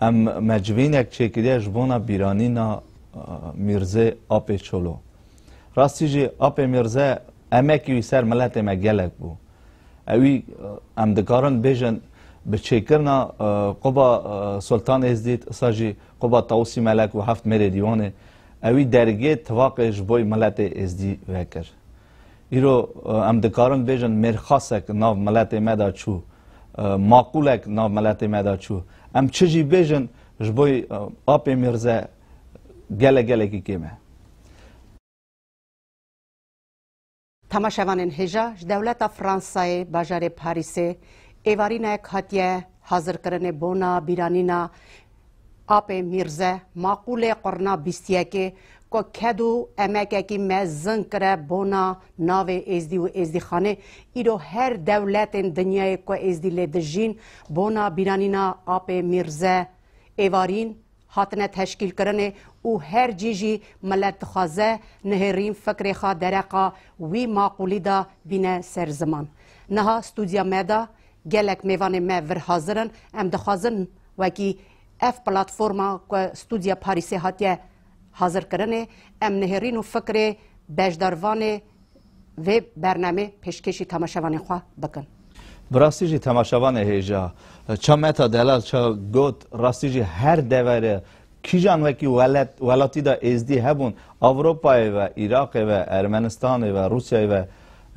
Em mecbînek çêkiriye ji bona bîranîna Mîrzê Apê Çolo. Rastî jî Apê Mîrze emekî wî ser miletê me gelek bû. Ewî em dikarin bêjin bi çêkirina quba Sultan Êzdît îsa jî quba Tawusî Melek û heft mêrê dîwanê ewî dergê tivaqê ji boy miletê Êzdî vekir. Îro em dikarin bêjin mêrxasek nav miletê me de çû, maqûlek nav miletê me de çû. Em çi jî bêjin ji bo apê Mîrze gelek gelekî kêm e. Temaşevanên hêja ji dewleta Fransayê bajarê Parîsê êvarînek hatiye hazirkirinê bona bîranîna Apê Mîrze maqûlê qurna bîst yekê ku ked û emekekî me zin kire bona navê Êzdî û Êzdîxanê, îro her dewletên dinyayê ku Êzdî lê dijîn bona bîranîna apê Mîrze êvarîn hatine teşkîlkirinê û her cî jî milet dixwaze nihêrîn fikrê xwe dereqa wî maqûlî de bîne ser ziman. Niha stûdya me de gelek mêvanê me vir hazir in, em dixwazin Wekî ev platforma ku Studya Parîsê hatiye hazirkirinê, em nihêrîn û fikirê beşdarvanê vê bernamê pêşkêşî temaşevanên xwe bikin. Bi rastî jî temaşevanê hêja ça Meta Delal ça got, rastî jî her devere kîjan wekî welet welatî de êzdî hebûn, Ewropayê ve, Îraqê ve, Ermenistanê ve, Rûsyayê ve,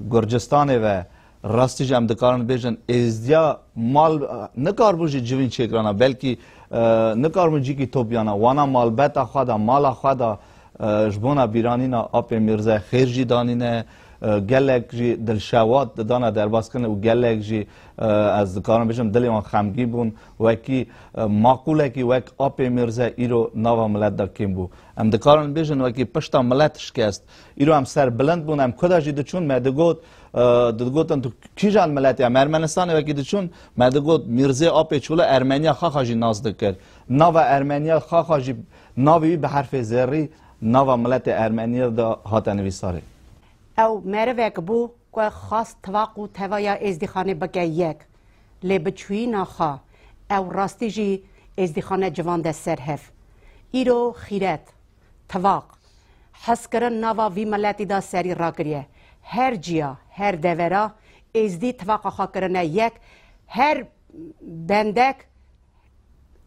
Gurcistanê ve, Rastî jî em dikarin bêjin êzdiya mal nikaribû jî civîn çêkirana belkî nikaribûn cîkî topîyana wana malbeta xwe de mala xwe de ji bona bîranîna Apê Mîrze xêr jî danîne gelek jî dilşewat didana derbaskirine û gelek jî ez dikarim bijim dilê wan xemgîn bûn wekî maqûlekî wek Apê Mîrze îro nava milet de kêm bû. Em dikarin bêjin wekî pişta milet şikest. Îro em serbilind bûn em kuda jî diçûn me digot Digotin tu kîjan miletê em Ermenistanê wekî diçûn me digot Mîrzê Apê Çûla Ermeniya Xaxa jî nas dikir. Nava Ermeniya Xaxa jî navê wî bi herfê zerrî nava miletê Ermeniyê de hate nivîsarê. Ew merivek bû ku xwast tivaq û tevaya Êzdîxanê bike yek. Lê bi çûyîna xwe ew rastî jî Êzdîxane civande ser hev. Îro xîret, Tivaq, hezkirin nava vî miletî de serî rakiriye. Her ciya, her devera Êzdî tivaqa xwe kirine yek, her bendek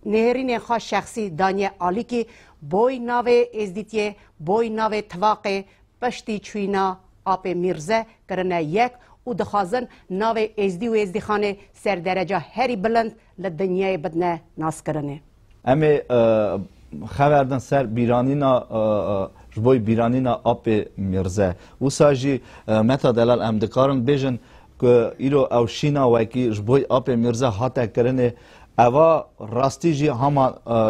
nêrînên xwe şexsî daniye alîkî, boy navê Êzdîtiyê, boy navê tivaqê, piştî çûyîna Apê Mîrze kirine yek û dixwazin navê Êzdî û Êzdîxanê ser dereca herî bilind li dinyayê bidine naskirinê. Em ê xever din ser bîranîna ji bo bîranîna apê Mîrze. Wisa jî Meta Delal em dikarin bêjin ku îro ew şîna wekî ji bo apê Mîrze hate kirinê eva rastî jî hema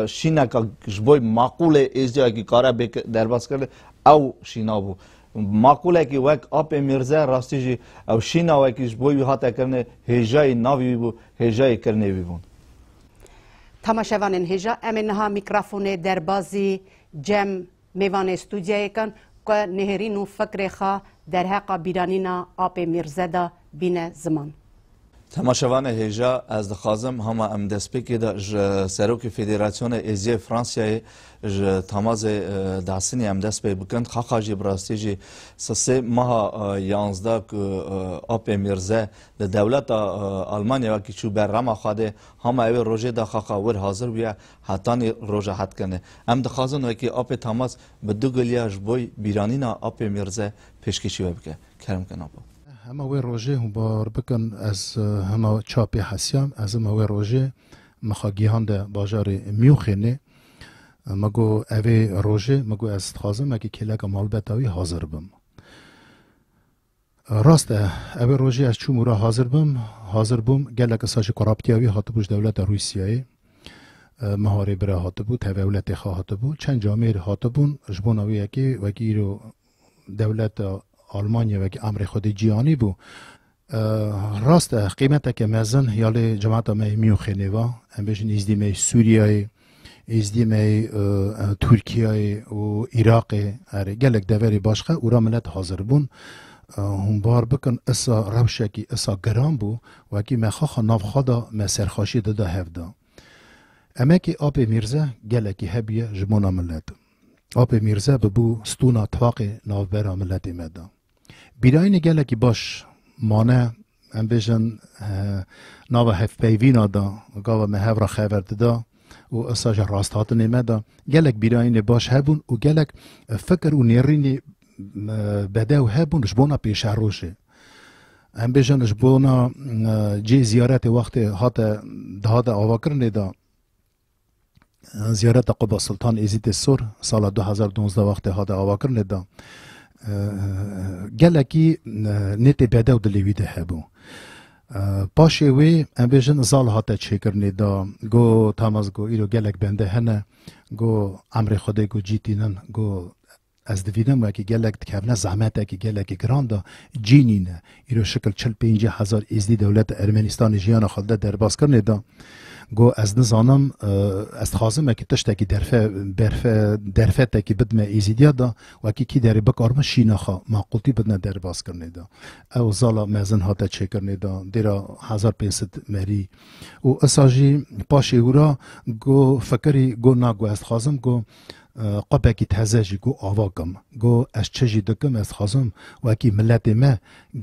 şîneka ji bo maqûlê êzdiya wekî kare bê derbas kirin ew şîna bû. Maqûlekî wek apê Mîrze rastî jî ew şîna wekî ji bo wî hate kirinê hêjayî navî wî bû hêjayê kirinê wî bûn. Tamaşevanên hêja em ê niha mîkrafonê derbazî cem mêvanê stûdyayê kan ku nihêrîn û fikrê xwe derheqa bîranîna Apê Mîrze de bîne ziman. Temaşevanê hêja ez dixwazim hama em destpêkê de ji Serokê Federasyonê Êziyê Fransiyayê ji Tamazê Dahsinî em dest pê bikin. Qaqa jî bi rastî jî sisê meha yanzdeh ku Apê Mîrze Di dewleta Almanya wekî çû ber rama Xwedê, hama ewê rojê da xaqa wir hazir bûye hetanî roja hetkinê. Em dixwazin wekî Apê Tamas bi du giliya ji boy bîranîna Apê Mîrze pêşkêşî we bike. Kerem ke napo. Hema wê rojê hûn bar bikin ez hema çar pê hesiyam ez hema wê rojê min xwe gihande bajarê Mûnxenê. Min got evê rojê min got ez dixwazim wekî kêleka malbeta wî hazir bim. Rast e, ev e rojê ez çûm û re hazir bim. Hazir bûm, gelek saj koraptiya wî hatibû ji dewleta Rûsyayê. Miharê bi re hatibû, tevê ewletê xwe hatibû. Çend camêr hatibûn ji bona wê yekê, wekî îro dewleta Almanya wekî emrê Xwedê cî anîbû. Rast e, qîmeteke mezin ya lê cemata me yê Mûnxenê va, em bêjin nîzdî me yê Sûriyayê, Êzdî me yê Tirkiyeyê û Iraqê erê gelek deverê başka û ra milet hazir bûn. Hûn bar bikin isa rewşekî isa giran bû wekî me xaxa nav xwe da me serxaşî dida hev da. Emekê Apê Mîrze gelekî hebûye ji bona milet. Apê Mîrze bibû stûna taqê navbera miletê me da. Bîrayînê gelekî baş mane Em bêjin nava hevpeyvîna da gava me hev ra xever dida û esa ji rasthatinê me da gelek bîrayînê baş hebûn û gelek fikir û nêrînê bedew hebûn ji bona pêşerojê. Em bêjin ji bona cê ziyaretê wextê hate dihate avakirinê da Ziyareta ku bi Sultan Êzîdê Sor sala du hezar donzdeh wextê hate avakirin lê da gelekî nêtê bedew dilê wî de hebû. Paşê wê em bêjin zal hate çêkirinê da go Tamaz go îro gelek bende hene go emrê Xwedê go cî tînin go Ez dibînim wekî gelek dikevne zehmetekî gelekî giran de cî nîne. Îro şikil çil pêncî hezar Êzdî dewleta Ermenistanê jiyana xwe li der derbas kirinê de go ez nizanim ez dixwazim wekî tiştekî derfe berfe derfetekî bidime Êzîdiya de wekî kî derê bikarme şîna xwe maqûltî bidine derbas kirinê de. Ew zala mezin hate çêkirinê de dêra hezar pênc sed merî û isa jî paşê hûra go fikirî go na go ez dixwazim go Qopekî teze jî got ava kim. Got ez çi jî dikim ez dixwazim wekî miletê me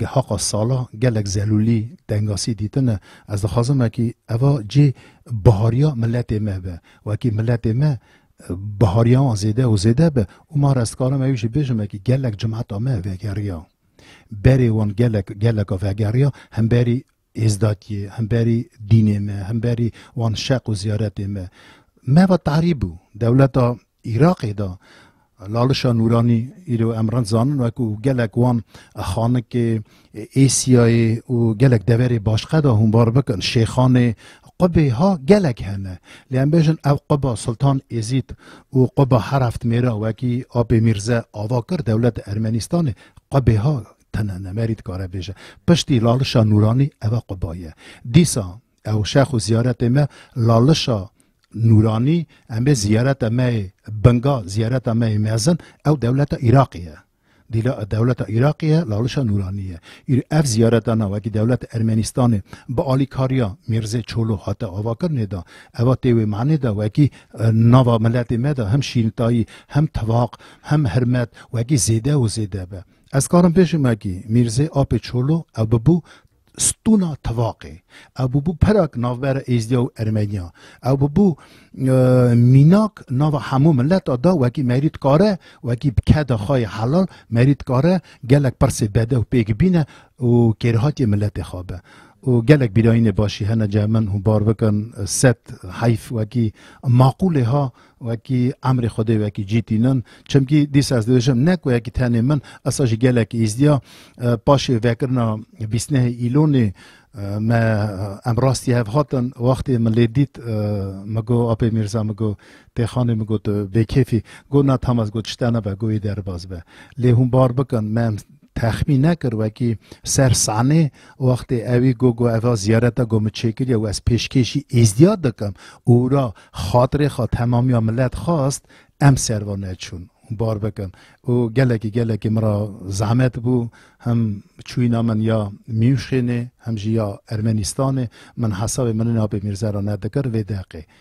haqa sala gelek zelûlî tengasî dîtine ez dixwazim wekî eva cê bihariya miletê me be. Wekî miletê me bihariya wan zêde û zêde be û mar ez dikarim ew jî bêjim wekî gelek cimeta me vegeriya. Berê wan gelek geleka vegeriya hemberî Êzdatiyê, hemberî dînê me, hemberî wan şeq û ziyaretê me. Me ve tarî bû. Dewleta Îraqê de Lalişa Nûranî îro em rind zanin wekû gelek wan Xanikê, Êsiyayê û gelek deverê başqe de hûnbar bikin. Şêxanê, qubê ha gelek hene. Lê em bêjin ev quba Sultan Êzîd û quba Heraftmêra wekî Apê Mîrze ava kir dewleta Ermenîstanê qubê ha Tena nemerî dikare bêje. Piştî lalişa nûranî ev e quba ye. Dîsa ew şex û ziyaretê me lalişa nûranî em ê ziyareta me yê binga, ziyareta me yê mezin ew dewleta Îraqê ye. Dîla dewleta Îraqê ye, lalişa nûranî ye. Îr ev ziyareta na wekî dewleta Ermenîstanê bi alîkariya Mîrzê Çolo hate avakirinê de eva tê wê manê de wekî nava miletê me de hem şîrintayî, hem tivaq, hem hirmet wekî zêde û zêde be. Ez karim pêşî me kî Mîrzê Apê Çolo ew bibû stûna tivaqê, ew bûbû perak navbera Êzdiya û Ermeniya, ew bûbû mînak nava hemû mileta da wekî merî dikare wekî bi keda xwe yê helal merî dikare gelek pirsê bedew pêk bîne û kêrhatiyê miletê xwe be û gelek bîrayînê başî hene cem min hûn bar bikin sed heyf wekî maqûlê ha Wekî emrê Xwedê wekî cî tînin. Çimkî dîsa ez dibêjim ne ku yekî tenê min esa jî gelekî îzdiya. Paşê vekirina bîstnehê Îlonê me em rastî hev hatin. Wextê min lê dît min got Apê Mîrza min got Têxanê min got tu bêkêfî. Got na tam ez got tişte nebe got yê derbaz be. Lê hûn bar bikin me em Texmîn nekir wekî ser sanê wextê ewî got got eva ziyareta got min çêkiriye û ez pêşkêşî êzdîya dikim û wira xatirê xwe temamîya milet xwest em serva neçûn bar bikin û gelekî gelekî min ra zehmet bû him çûyîna min ya Mîûnxênê him jî ya Ermenîstanê min hesabê Mirinabê Mîrzera nedikir vê deqê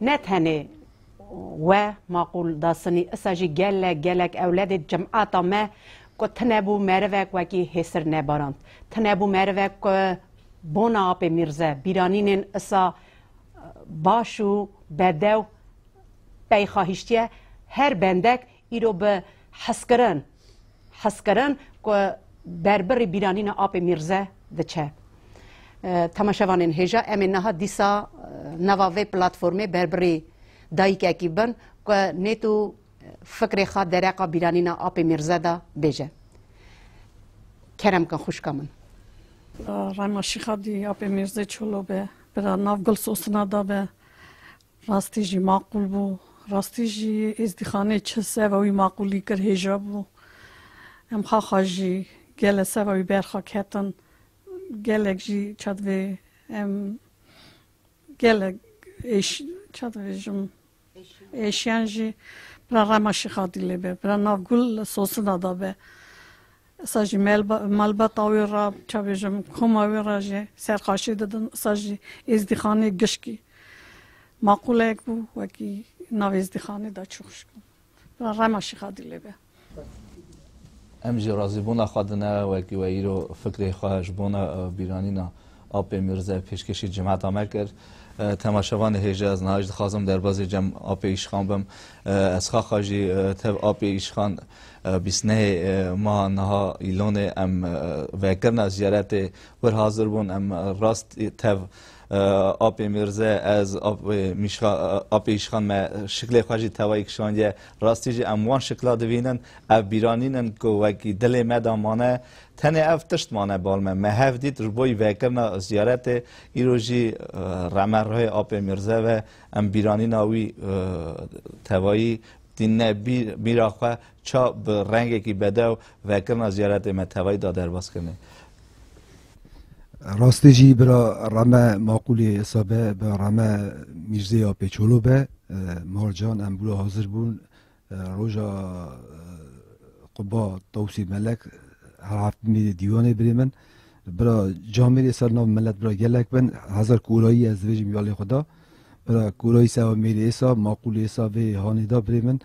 Ne tenê we maqûl dasinî isa jî gelek gelek ewledê cimata me ku tinebû merivek wekî hêsir nebarand. Tinebû merivek ku bona apê mîrze bîranînên isa baş û bedew peyxahîştiye her bendek îro bi hezkirin hezkirin ku berbirî bîranîna apê Mîrze diçe. Temaşevanên hêja em ê niha dîsa nava vê platformê berbirî dayîkekî bin ku nêt û fikrê xwe dereqa bîranîna apê Mîrze de bêje. Kerem kin xwişka min. Rayma Şîxa dî apê Mîrzê Çolo be, bira nav Gul Sosina da be. Rastî jî maqûl bû. Rastî jî êzdîxanê çi seva wî maqûlî kir hêja bû. Em xaxa jî gele seva wî berxa ketin. Gelek jî çadivê em gelek êş çadivê jim êşiyan jî bira rema Şêxadîlê be, bira nav gul sosina da be. Îsa jî malbata wê re çavêjim, koma wê re jî serqaşî didin. Îsa jî êzdîxanê gişkî maqûleyek bû, wekî nav êzdîxanê de çû xişk bû. Bila rema Şîxa Dîlê be. Em jî razîbûna xwe dine wekî we îro fikrê xwe ji bona bîranîna Apê Mîrze pêşkêşî cemata me kir. Temaşevanê hêja ez niha jî dixwazim derbazê cem apê îşxan bim. Ez xaxa jî tev apê îşxan bîst nehê meha niha îlonê em vekirina ziyaretê wir hazir bûn. Em rast tev apê Mîrze ez apê îşxan me şiklê xwe jî tewayî kişandiye. Rastî jî em wan şikla dibînin. Ev bîranîn in ku wekî dilê me de mane. Tenê ev tişt mane bal me. Me hev dît ji bo vekirina ziyaretê îro jî reme rihê Apê Mîrze ve em bîranîna wî tevayî tîne bîra xwe ça bi rengekî bedew vekirina ziyaretê me tevayî da derbas kirine. Rastê jî bira reme maqûlê êsa be bi reme Mîrzê Apê Çolo be. Marcan em bûra hazir bûn Roja Quba Tawsî Melek her heftmî dê dîwanê birê min. Bira camê rê ser nav milet bira gelek bin hezar korayî ez dibêjim ya lê xwe da. Bira korayî sewa mêrê êsa maqûl êsa vê hanê da birê min.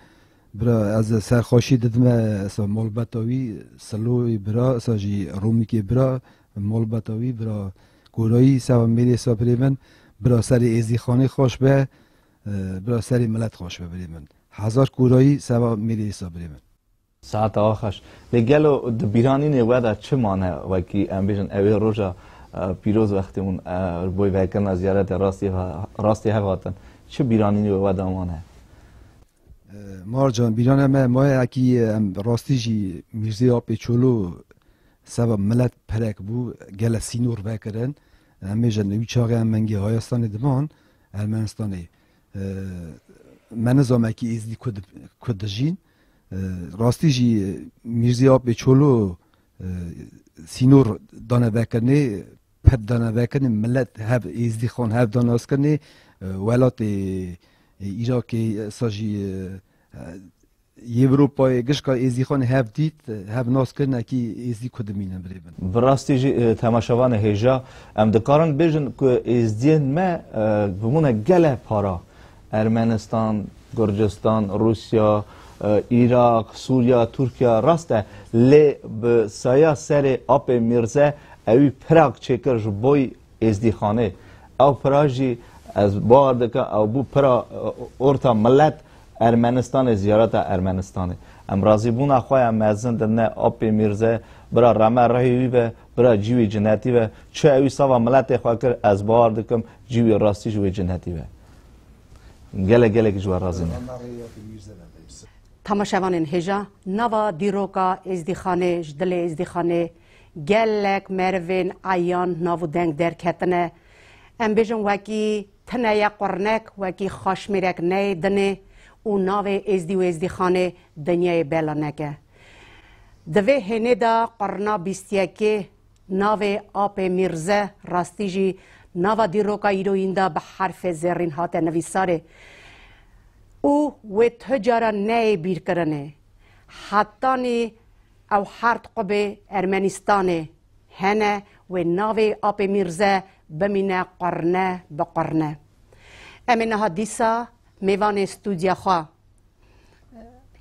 Bira ez ser xweşî didime esa malbeta wî siloyê bira esa jî romîkê bira malbeta wî bira korayî sewa mêrê êsa birê min. Bira serê êzîxanê xweş be Bira serê milet xweş be birê min. Hezar kurayî seba mêrê îsa birê min. Saet awa xweş. Lê gelo di bîranînê we de çi mane wekî em bêjin ew ê roja pîroz wextê hûn li bo vekirina ziyaretê rastî hev hatin çi bîranînê wê we de mane? Mar can bîrana me maye ekî em rastî jî Mîrzê Apê Çolo seba milet perek bû gele sînor vekirin. Em bêjin wî çaxê em mengê Hayastanê diman Ermenistanê me nizame kî êzidî ku dijîn. Rastî jî Mîrzî Apê Çolo sînor dane vekirinê, ped dane vekirinê, milet hev êzidî xan hev da nas kirinê. Welatê Îrakê êsta jî Yewropayê gişka êzîxan hev dît, hev nas kir nekî êzî ku dimînin birê bin. Bi rastî jî temaşevan e hêja. Em dikarin bêjin ku êzdiyên me bimûne gelek para. Ermenistan, Gurcistan, Rûsya, Îraq, Sûriya, Tirkiya rast e lê bi saya serê apê Mîrze ewî pirak çêkir ji boy Êzdîxanê, ew pira jî ez bawer dikim ew bû pira orta milet Ermenistanê ziyareta Ermenistanê. Em razîbûna xwe ya mezin di ne Apê Mîrze bira reme rehî wî be, bira cîwî cinetî be. Çi ewî sava miletê xwe kir ez bawer dikim cîwî rastî ji wê cinetî be. Gelek gelekî ji we razî ne. Tamaşevanên hêja nava dîroka Êzdîxanê ji dilê Êzdîxanê Gelek merivên eyan nav û deng derketine. Em bêjin wekî tine ye qurnek, wekî xaşmêrek neyê dinê û navê Êzdî û Êzdîxanê dinyayê bela neke. Di vê hênê de qurna bîst yekê navê Apê Mîrze rastî jî nava dîroka îroyîn de bi herfê zêrîn hate nivîsarê û wê tu cara neyê bîrkirinê. Hetanî Ew hard qubê Ermenistanê hene wê navê Apê Mîrze bimîne qurne bi qurne. Em ê niha dîsa mêvanê stûdya xwe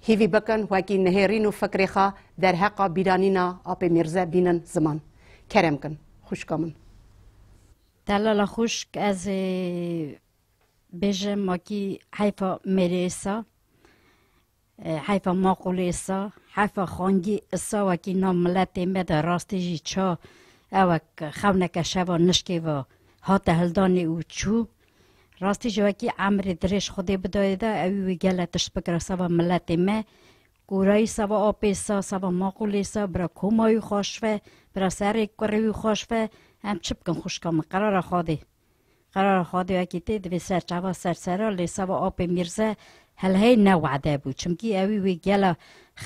hîvî bikin wekî nihêrîn û fikrê xwe derheqa bîranîna Apê Mîrze bînin ziman. Kerem kin xwişka min. Delala xwişk ez ê bêjim wekî heyfa mêrê êsa. Heyfa maqûlê îsa, heyfa xangî îsa wekî nav miletê me de rastî jî ça ewek xewneke şeva nişkê ve hate hildanê û çû. Rastî jî wekî emrê dirêj Xwedê bidayê de ewî wî gele tişt bikire seba miletê me. Kûrayî seba apê îsa, seba maqûlê îsa, bira koma wî xweş ve, bira serê kurê wî xweş ve, em çi bikin xwişka min, qerara Xwedê. Qerara xwe di Yekîtiyê di vê serçava sersera lê seba apê Mîrze Helheyî ne wade bû. Çimkî ewî wê gela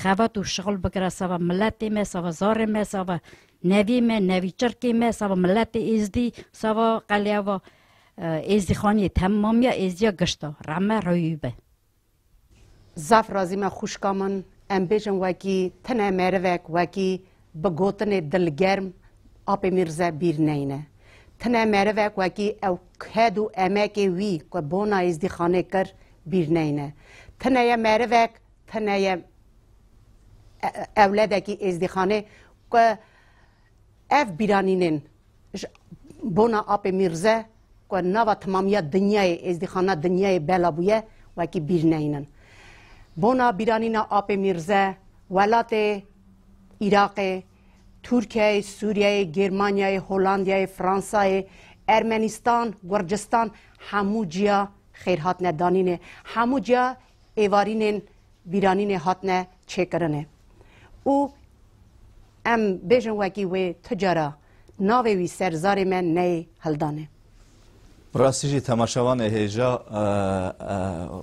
xebat û şixul bikira seba miletê me, seba zarê me, seba nevî me, nevî çirkê me, seba miletê Êzdî, seba qeleya va Êzdîxaniyê, temamiya Êzdiya gişta. Rehme rewî be. Zaf razî me xwişka min, em bêjin wekî tine merivek wekî bi gotinê dilgerm Apê Mîrze bîr neyne. Tine merivek wekî ew ked û emekê wî ku bona Êzdîxanê kir bîr neyne. Tine ye merivek, tine ye ewledekî Êzdîxanê ku Ev bîranînên ji bona Apê Mîrze ku nava timamiya dinyayê êzdîxana dinyayê bela bûye wekî bîr neynin. Bona bîranîna Apê Mîrze welatê Îraqê, Tirkiyeyê, Sûriyeyê, Gêrmanyayê, Holandiyayê, Fransayê, Ermenîstan, Gurcistan hemû ciya xêr hatine danînê. Hemû ciya êvarînên bîranînê hatine çêkirinê. Û Em bêjin wekî wê tu cara navê wî ser zarê me neyê hildanê. Rastî jî temaşevan ê hêja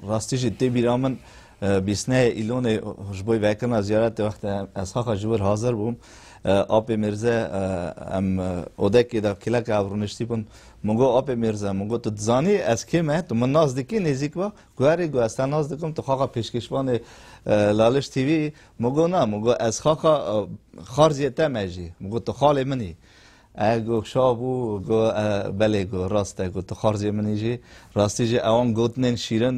rastî jî tê bîra min bîsneyê Îlonê ji bo vekirina ziyaretê wextê ez xaxa ji wir hazir bûm Apê Mîrze em odekê de kêleka ev rûniştî bûn min got Apê Mîrze min got tu dizanî ez kê me tu min nas dikî nêzîk be guherî got ez te nas dikim tu xaxa pêşkêşvanê Laliş TV Min got na, min got ez xaka Xarziyê te me jî. Min got tu xalê min î. E got şax bû, got e belê got rast e, got tu Xarziyê min î jî. Rastî jî ewan gotinên şîrin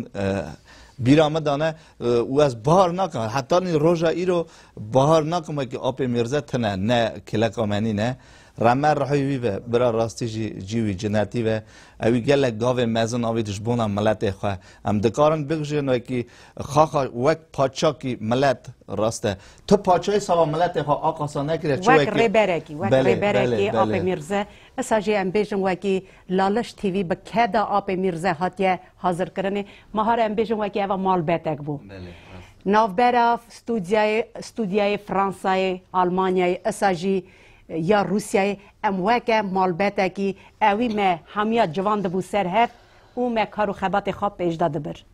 bîra min dane û ez bahar nakim. Heta nî roja îro bahar nakim wekî apê Mîrze tune ne kileka me nîne. Reme rihî wî be, bira rastî jî cî wî cinetî be. Ewî gelek gavên mezin avît ji bona miletê xwe. Em dikarin bigijîn wekî Xaxa wek paçakî milet rast e. Tu paçayê sawa miletê xwe a qasa nekiriye çi Wek wekî? rêberekî, wek Belê, rêberekî belê, belê. Apê Mîrze. Esa jî em bêjin wekî Laliş TV bi keda Apê Mîrze hatiye hazirkirinê. Mahar em bêjin wekî eva malbetek bû. Belê, rast. Navbera stûdyayê, stûdyayê Fransayê, Almanyayê, esa jî ya Rûsyayê em weke malbetekî ewî me hemiya civan dibû ser hev, û me kar û xebatê xwe pêşde dibir.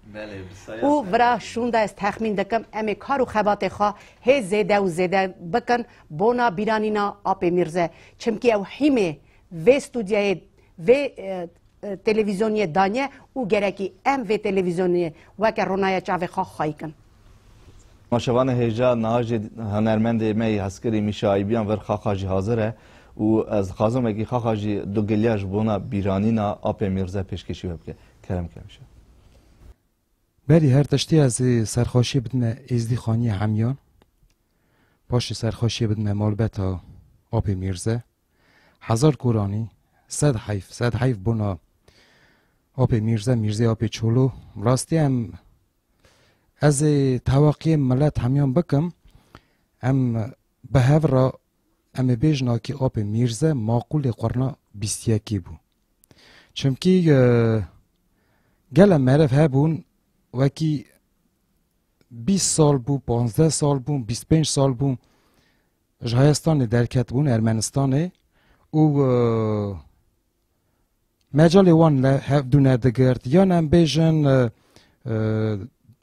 Û vira şûnda ez texmîn dikim em ê kar û xebatê xwe hê zêde û zêde bikin bona bîranîna Apê Mîrze. Çimkî ew hîmê vê stûdyayê vê televîzyoniyê daniye û gerekî em vê televîzyoniyê weke ronaya çavê xwe xayikin. Ma şevane hêja nahajê hunermendê me yê hezkirî Mîşa Aybîyan vir xaxa jî hazir e û ez dixwazim wekî xaxa jî du giliya ji bona bîranîna apê Mîrze pêşkêşî we bike. Kerem ke Mîşa. Belê her tiştî ez ê serxweşiyê bidime Êzdî Xaniyê Hemîyan. Paşê serxweşiyê bidime malbata apê Mîrze. Hezar koranî, sed heyf, sed heyf bona apê Mîrze, Mîrzê apê Çolo. Bi rastî em Ez ê tewaqiyên milet hemiyan bikim. Em bi hev re em ê bêjin akî apê Mîrze maqûlê qurna bîst yekî bû. Çimkî gele meriv hebûn wekî bîst sal bû, panzdeh sal bû, bîst pênc sal bû ji Hayestanê derketibûn Ermenistanê û Mecalê wan ne hev du nedigirt yan em bêjin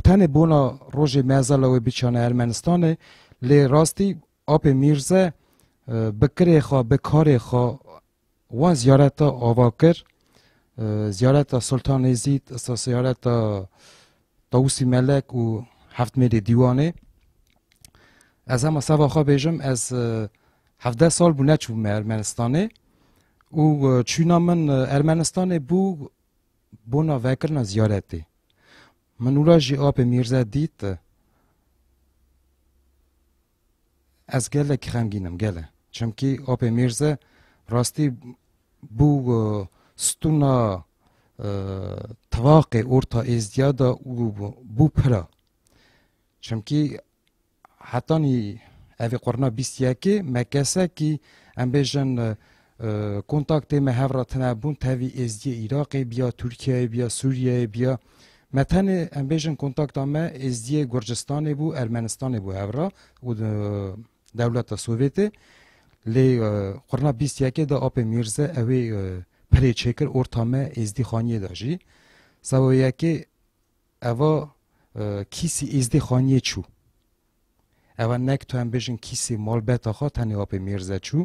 tenê bona rojê mezala wê biçane Ermenistanê lê rastî apê Mîrze bi kirê xwe bi karê xwe wan ziyareta ava kir ziyareta Sultan Êzîd ziyareta Tawusî Melek û Heftmêlê Dîwanê Ez hema seva xwe bêjim ez hevdeh sal bû neçûbûme Ermenistanê û çûna min Ermenistanê bû bona vekirina ziyaretê. Min ûla jî apê Mîrze dît. Ez gelek xemgîn im gele. Çimkî Apê Mîrze rastî bû stûna tivaqê orta êzdîya de û bû pira. Çimkî hetanî evê qurna bîst yekê me kesekî em bêjin Kontaktê me hev re tune bûn tevî Êzdiyê Îraqê biya, Tirkiyeyê biya, Sûriyeyê biya. Me tenê em bêjin kontakta me Êzdiyê Gurcistanê bû, Ermenistanê bû hev re û dewleta Sovyetê. Lê qurna bîst yekê de apê Mîrze ew ê pirê çêkir orta me Êzdî Xaniyê de jî. Seba yekê eva kîsî Êzdî Xaniyê çû. Eva nek tu em bêjin kîsê malbeta xwe tenê apê Mîrze çû,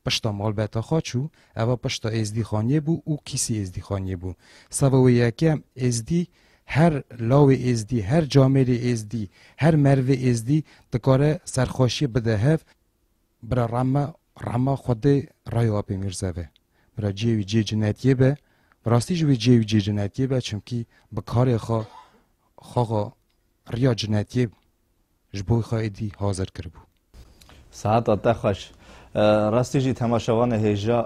pişta malbeta xwe çû, eva pişta Êzdîxaniyê bû û kîsî Êzdîxaniyê bû. Seba wê yekê em Êzdî, her lawê Êzdî, her camêrê Êzdî, her merivê Êzdî dikare serxweşiyê bide hev. Bira Rama, Rama xwedê rayê apê Mîrze be. Bira ciyê wî ciyê cinetiyê be. Bi rastî jî wê ciyê wî ciyê cinetiyê be çimkî bi karê xwe xwe xwe Riya cinetiyê ji bo xwe êdî hazir kiribû. Sehata te xweş. Rastî jî temaşevanê hêja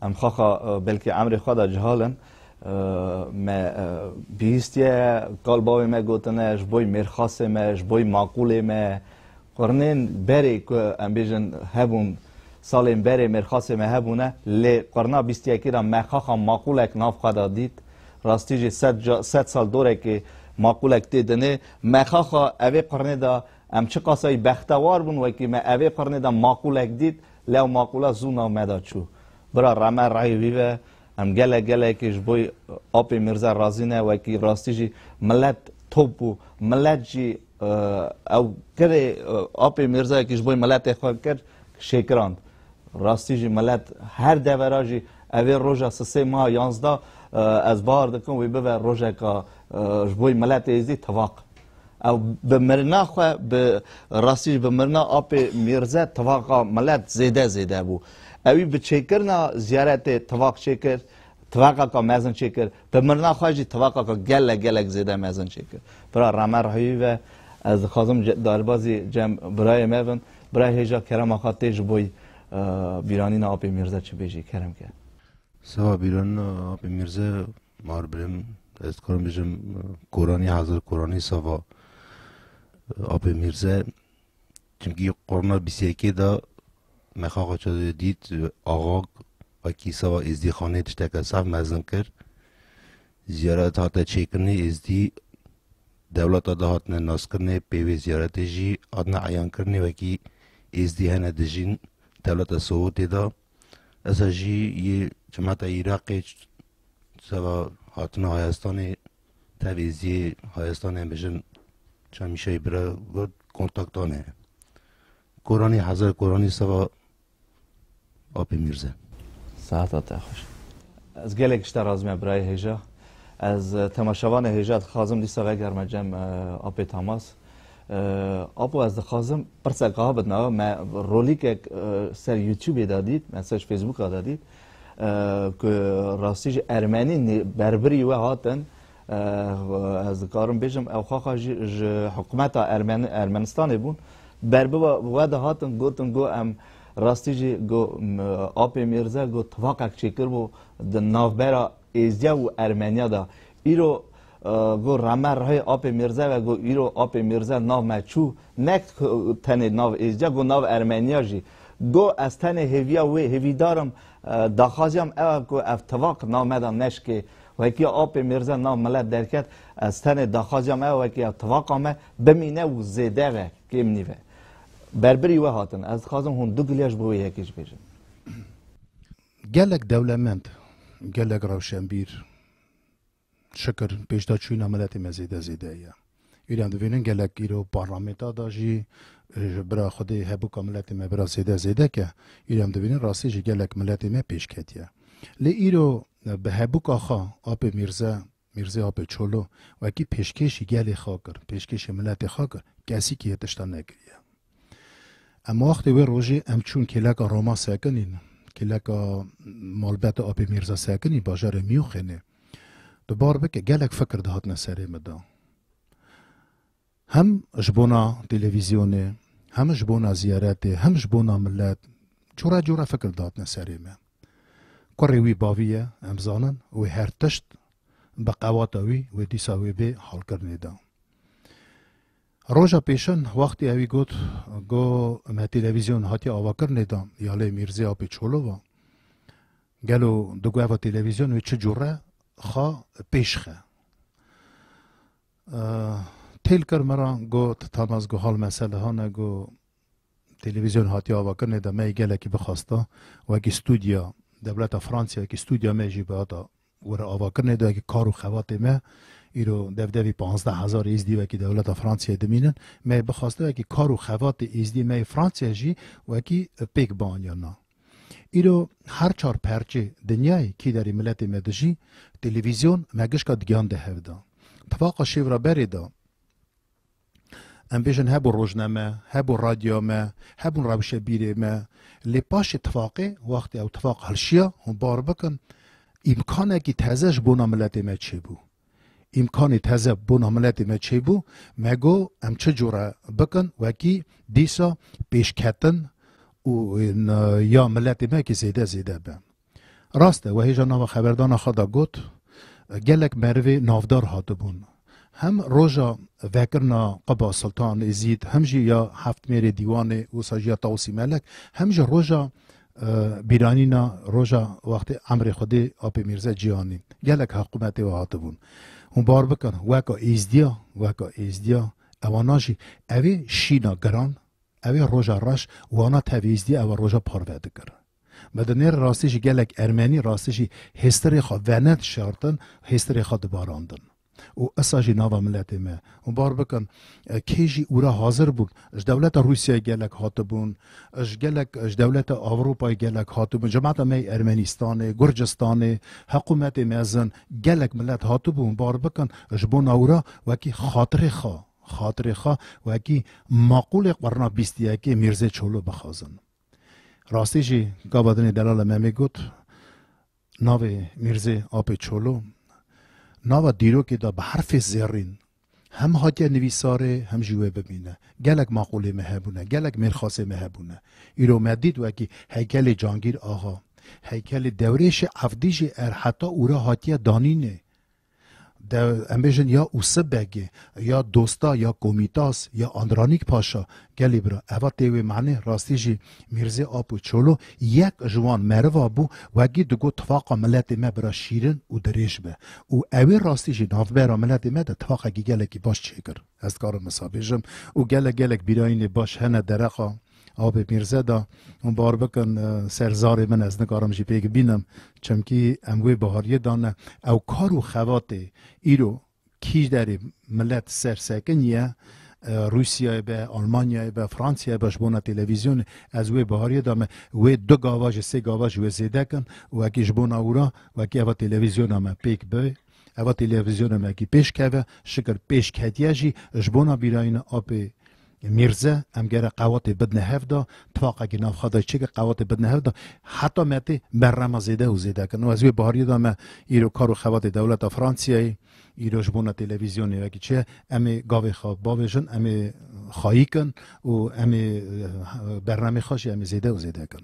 em xaxa belkî emrê xwe de cihal in. Me bihîstiye kal bavê me gotine ji boy mêrxasê me, ji boy maqûlê me Qurnên berê ku em bêjin hebûn salên berê mêrxasê me hebûne lê qurna bîst yekî re me xaxa maqûlek nav xwe de dît. Rastî jî sed ca sed sal dorekê maqûlek tê dinê. Me xaxa evê qurnê de em çiqasayî bextewar bûn wekî me evê qurnê de maqûlek dît lê ew maqûla zû nav me de çû. Bira rame rayê wî be em gelek gelekê ji bo Apê Mîrze razî ne wekî rastî jî milet top bû. Milet jî Ew kerê apê Mîrzayekî ji bo miletê xwe kir şêkirand. Rastî jî milet her devera jî evê roja sisê ma yanzda ez bar dikim wî bibe rojeka ji bo miletê êzî tivaq. Ew bi mirina xwe bi rastî jî bi mirina apê Mîrze tivaqa milet zêde zêde bû. Ewî bi çêkirina ziyaretê tivaq çêkir Tifaka ka mezin çêkir. Bi mirina xwe jî tifaka ka gelek gelek zêde mezin çêkir. Bira Ramer Rahîwî ve ez dixwazim derbazî cem birayê me bin. Bira hêja kerema xwe tê ji bo bîranîna Apê Mîrze çi bêjî kerem ke? Seba bîranîna Apê Mîrze mar birim ez dikarim bijim Koranî hazir Koranî seba Apê Mîrze Çimkî qurna bîst yekê de me xaxa çadîrê dît axak wekî seba êzdîxanê tişteke sax mezin kir. Ziyaret hate çêkirinê êzdî dewleta de hatine naskirinê pê wê ziyaretê jî hatine eyankirinê wekî êzdî hene dijîn dewleta Sowetê de. Esa jî yê cemata Îraqê seba hatina hayestanê Tevî zî hayestanên bijin Çemîşeyî bira got kontaktan hene. Koranî heze koranî seva Apê Mîrze. Sehata te xweş. Ez gelek tişta razî me birayê hêja. Ez temaşevanê hêja dixwazim dîsa vegerme cem Apê Tamas. Apo ez dixwazim pirsek a bidna me rolîkek ser Youtubê de dît, me ser ji Facebooka de dît. Ku rastî jî ermenî berbirî we hatin ez dikarim bêjim ew xaxa jî ji hikumeta Ermenistanê bûn ber bi we de hatin gotin got em rastî jî got Apê Mîrze got tifaqek çêkiribû di navbera Êzdiya û Ermeniya de. Îro got rame rihê apê Mîrze ve got îro apê Mîrze nav me çû nek tenê nav Êzdiya got nav Ermeniya jî. Got ez tenê hêviya wê hêvîdar im daxwaziya min ew e ku ev tivak nav me de neşikê. Wekî apê Mîrze nav milet derket ez tenê daxwaziya min ew e ku ev tivaka me bimîne û zêde ve kêm nîve. Berbirî we hatin. Ez dixwazim hûn du gilya ji bo wê yekê jî bêjin. Gelek dewlemend, gelek rewşenbîr şikir pêşdaçûna miletê me zêde zêde ye. Îro em divînin gelek îro parlamenta da jî ji bira xwedê hebûka miletê me bira zêde zêde ke îro em divînin rastî jî gelek miletê me pêş ketiye. Lê îro bi hebûka xwe Apê Mîrze Mîrzê Apê Çolo wekî pêşkêşî gelê xwe kir, pêşkêşî miletê xwe kir, kesîkî hê tiştan nekiriye. Em wextê wê rojê em çûn kêleka Roma sekinî, kêleka malbeta Apê Mîrza sekinî bajarê Miyûxênê. Tu bar bike gelek fikir dihatine serê min de. Hem ji bona televîzyonê, hem ji bona ziyaretê, hem ji bona milet cora cora fikir datine serê me. Kurê wî bavî ye, em zanin, wê her tişt bi qewata wî wê dîsa wê bê halkirinê de. Roja pêşin wextê ewî got go me televîzyon hatiye avakirinê de ya lê Mîrzê Apê Çolova. Gelo digo eva televîzyon wê çi cure xwe pêşxe. Têl kir me ra got Tamas got hal mesele hane got televîzyon hatiye avakirinê de me yê gelekî bixwasta wekî studya dewleta Fransya wekî studya me jî bi hata were avakirinê de wekî kar û xebatê me îro dev devî panzdeh hezar êzdî wekî dewleta Fransiyayê dimînin me yê bixwasta wekî kar û xebatê êzdî me yê Fransya jî wekî pêk bianîya na Îro her çar perçê dinyayê kî derê miletê me dijî, televîzyon me gişka digihan de hev da. Tifaqa şêv ra berê de em bêjin hebû rojne me, hebû radyoya me, hebûn rewşe bîrê me. Lê paşê tifaqê, wextê ew tifaq hilşiya hûn bar bikin îmkanekî teze ji bona miletê me çêbû. Îmkanê teze bûna miletê me çêbû, me got em çi cure bikin wekî dîsa pêşketin û ya miletê me kî zêde zêde be. Rast e, wehêja nava xeberdana xwe de got, gelek merivê navdar hatibûn. Hem roja vekirina qiba Siltan Êzîd, hem jî ya Heftmêrê Dîwanê, wisa jî ya Tawsî Melek, hem jî roja Bîranîna roja wextê emrê Xwedê Apê Mîrze Cîhanî gelek heqûmetê we hatibûn. Hûn bar bikin weka êzdîya, weka êzdîya ewana jî ew ê şîna giran, ew ê roja reş wana tev êzdîya ew ê roja parve dikir. Me di nêrê rastî jî gelek ermenî rastî jî hêstirê xwe vened şartin, hêstirê xwe dibarandin. û esa jî nava miletê me û bar bikin kê jî ûra hazir bûn ji dewleta Rûsyayê gelek hatibûn ji gelek ji dewleta Ewropayê gelek hatibûn cemata me yê Ermenistanê Gurcistanê heqûmetê mezin gelek milet hatibû û bar bikin ji bo newra wekî xatirê xwe xatirê xwe wekî maqûlê qerna bîst û yekê Mîrzê Çolo bixwazin. Rastî jî gava dinê Delala Memê got Navê Mîrzê Apê Çolo nava dîrokê de bi herfê zêrîn hem hatiye nivîsarê hem jî wê bimîne. Gelek maqûlê me hebûne, gelek mêrxasê me hebûne. Îro me dît wekî heykelê Cangîr Axa, heykelê Dewrêşê Evdî jî er heta ûra hatiye danînê. De em bêjin ya Usib Begê, ya Dosta, ya Komitas, ya Andranîk Paşa. Gelê bira, eva tê wê manê, rastî jî Mîrzê Apo Çolo yek ji wan meriva bû, wegî digot tifaqa miletê me bira şîrin û dirêj be. Û ewê rastî jî navbera miletê me de tifaqekî gelekî baş çêkir. Ez dikarim wisa bêjim û gelek gelek bîrayînê baş hene dereqa Abê Mîrze de hûn bar bikin ser zarê min ez nikarim jî pêk bînim çimkî em wê bihariyê de ne ew kar û xebatê îro kî derê milet ser sekin ye Rûsyayê be, Almanyayê be, Fransayê be ji bo na televîzyonê ez wê bihariyê de me wê du gava ji sê gava ji wê zêde kin û wekî ji bo na wira wekî eva televîzyona me pêk bi Eva têlêvîzyona me kî pêş keve, şikir pêş ketiye jî ji bona bîrayîna apê Mîrze em gere qewatê bidine hev de, tifaqekî navxwe de çêkir qewatê bidine hev de, heta me tê berrama zêde û zêde kirin û ez wê bihariyê de me îro kar û xebatê dewleta Fransiyeyê îro ji bona têlevîzyonê vekî çi ye, em ê gavê xwe bavêjin, em ê xayî kin û em ê berramê xwe jî em ê zêde û zêde kin.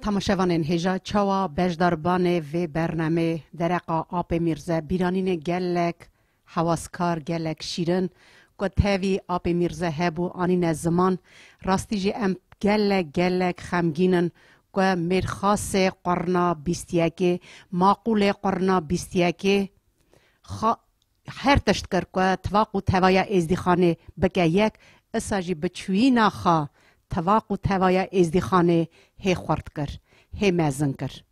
Temaşevanên hêja çawa beşdarbanê vê bernamê dereqa Apê Mîrze bîranînê gelek hewaskar gelek şîrin ku tevî Apê Mîrze hebû anîne ziman rastî jî em gelek gelek xemgîn in ku mêrxasê qurna bîst yekê maqûlê qurna bîst yekê Her tişt kir ku tivaq û tevaya Êzdîxanê bike yek, isa jî bi çûyîna xwe tivaq û tevaya Êzdîxanê hê xurt kir, hê mezin kir.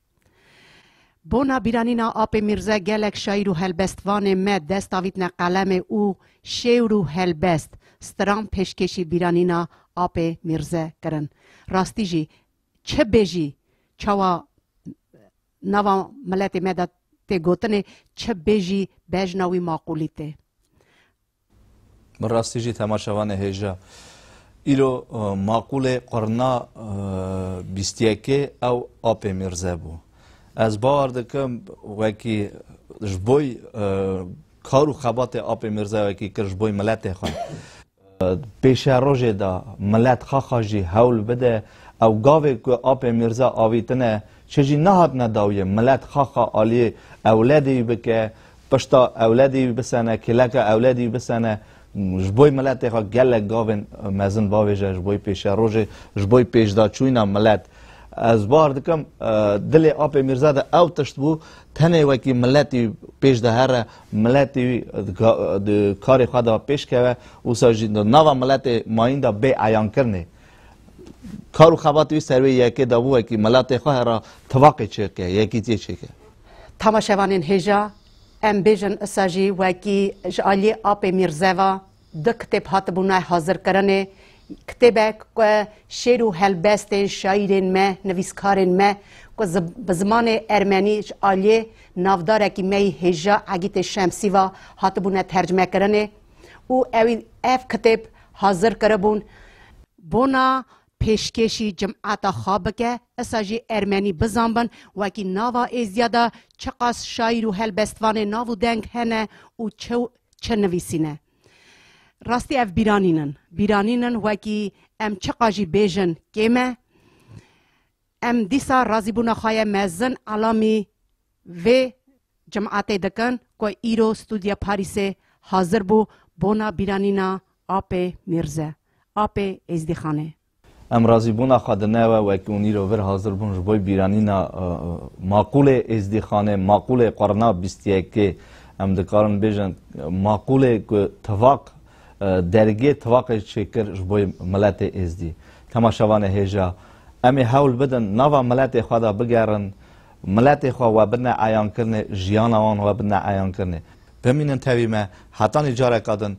Bona bîranîna Apê Mîrze gelek şaîr û helbestvanê me dest avîtne qelemê û şêwr û helbest, stran pêşkêşî bîranîna Apê Mîrze kirin. Rastî jî, çi bêjî, çawa Nava miletê me de tê gotinê çi bê jî bejna wî maqûlî tê. Bi rastî jî temaşevanê hêja. Îro maqûlê qurna bîst yekê ew Apê Mîrze bû. Ez bawer dikim wekî ji boy kar û xebatê Apê Mîrze wekî kir ji boy miletê xwe. Pêşerojê de milet xaxa jî hewl bide. Ew gavê ku Apê Mîrza avîtine çi jî nehatine dawiyê. Milet xaxa aliyê ewledê wî bike, pişta ewledê wî bisene, kêleka ewledê wî bisene. Ji bo miletê xwe gelek gavên mezin bavêje, ji bo pêşerojê, ji bo pêşdaçûna milet. Ez bar dikim dilê Apê Mîrza de ew tişt bû, tenê wekî miletî pêş de here Miletî di karê xwe de pêş keve wisa jî di nava miletê mayîn de bê eyankirinê kar û xebatê wî ser wê yekê de bû wekî miletê xwe hera tivaqê çêke, yekîtiyê çêke. Tamaşevanên hêja em bêjin isa jî wekî ji aliyê apê Mîrzeva Du kitêb hatibûne hazirkirinê, kitêbek ku şêr û helbestên şaîrên me, nivîskarên me ku bi zimanê ermenî ji aliyê navdarekî me yî hêja Egîtê Şemsî ve hatibûne tercimekirinê û ewî ev kitêb hazir kiribûn bona pêşkêşî cimata xwe bike, isa jî ermenî bizanbin wekî nava Êziya de çiqas şaîr û helbestvanê nav û deng hene û çi çi nivîsîne. Rastî ev bîranîn in. Bîranîn in wekî em çiqa jî bêjin kêm e. Em dîsa razîbûna xwe ye mezin elamî vê cimatê dikin ku îro Studya Parîsê hazir bû bona bîranîna Apê Mîrze, Apê Êzdîxanê. Em razîbûna xwe di newe wekî û nîro vir hazir bûn ji bo bîranîna maqûlê Êzdîxanê, maqûlê qurna bîst yekê. Em dikarin bêjin maqûlê ku tivaq dergê tivaqê çêkir ji bo miletê Êzdî. Dema şevanê hêja em ê hewl bidin nava miletê xwe de bigerin, miletê xwe we bidine eyankirinê, jiyana wan we bidine eyankirinê. Bimînin tevî me, hetanî careka din